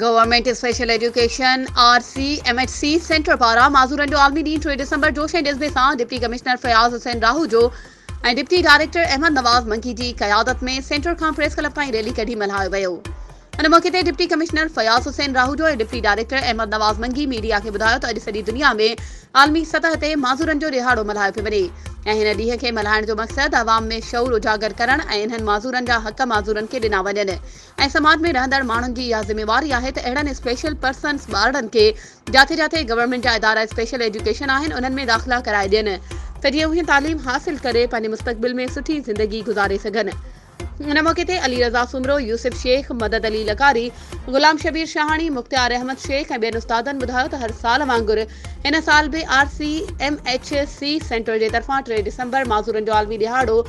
Government special education, R C, M H C centre پاران معذورن جو عالمي ڏينهن ٽي ڊسمبر جوش ۽ جذبي سان deputy commissioner Fayaz Hussain Rahoojo ۽ deputy director Ahmed Nawaz Mangi جي قيادت ۾ سينٽر کان پريس ڪلب تائين ريلي ڪڍي ملهايو ويو ان موقعي تي deputy commissioner Fayaz Hussain Rahoojo ۽ deputy director Ahmed Nawaz Mangi media کي ٻڌايو ته اڄ سڄي دنيا ۾ عالمي سطح تي معذورن جو ڏهاڙو ملهايو پيو وڃي ۽ هن ڏينهن کي ملهائڻ جو مقصد عوام ۾ شعور اجاگر ڪرڻ ۽ انهن معذورن جا حق معذورن کي ڏنا وڃن ۽ سماج ۾ رهندڙ ماڻهن جي اها ذميواري آهي ته اهڙن اسپيشل پرسنز ٻارڙن کي جاٿي جاٿي گورنمينٽ جا ادارا اسپيشل ايجوڪيشن آهن انهن ۾ داخلا ڪرائي ڏين ته جيئن اهي تعليم حاصل ڪري پنهنجي مستقبل ۾ سٺي زندگي گذاري سگهن ان موقعي تي علي رضا سومرو، يوسف شيخ، مدد علي لغاري، غلام شبير شاهاڻي، مختيار احمد شيخ ۽ ٻين استادن ٻڌايو ته هر سال وانگر ان سال به R C M H C centre جي طرفان ٽي ڊسمبر معذورن جو عالمي ڏهاڙو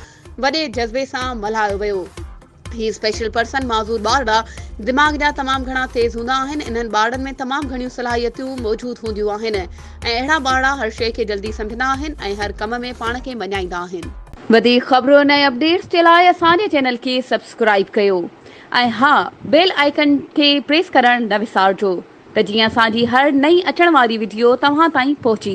وڏي جذبي سان ملهايو ويو. هي اسپيشل پرسن معذور ٻارڙا دماغ جا تمام گهڻا تيز هوندا آهن انهن ٻارڙن ۾ تمام گهڻيون صلاحيتيون موجود هونديون آهن ۽ اهڙا ٻارڙا هر شيء کي جلدي سمجهندا آهن ۽ هر ڪم ۾ پاڻ کي مڃائيندا آهن. وڌيڪ خبرن ۽ اپڊيٽس جي لاء اسان جي چينل کي سبسڪرائيب ڪيو ۽ ها بيل آئيڪن کي پريس ڪرڻ نه وسارجو ته جيئن اسان جي هر نئين اچڻ واري وڊيو توهان تائين پهچي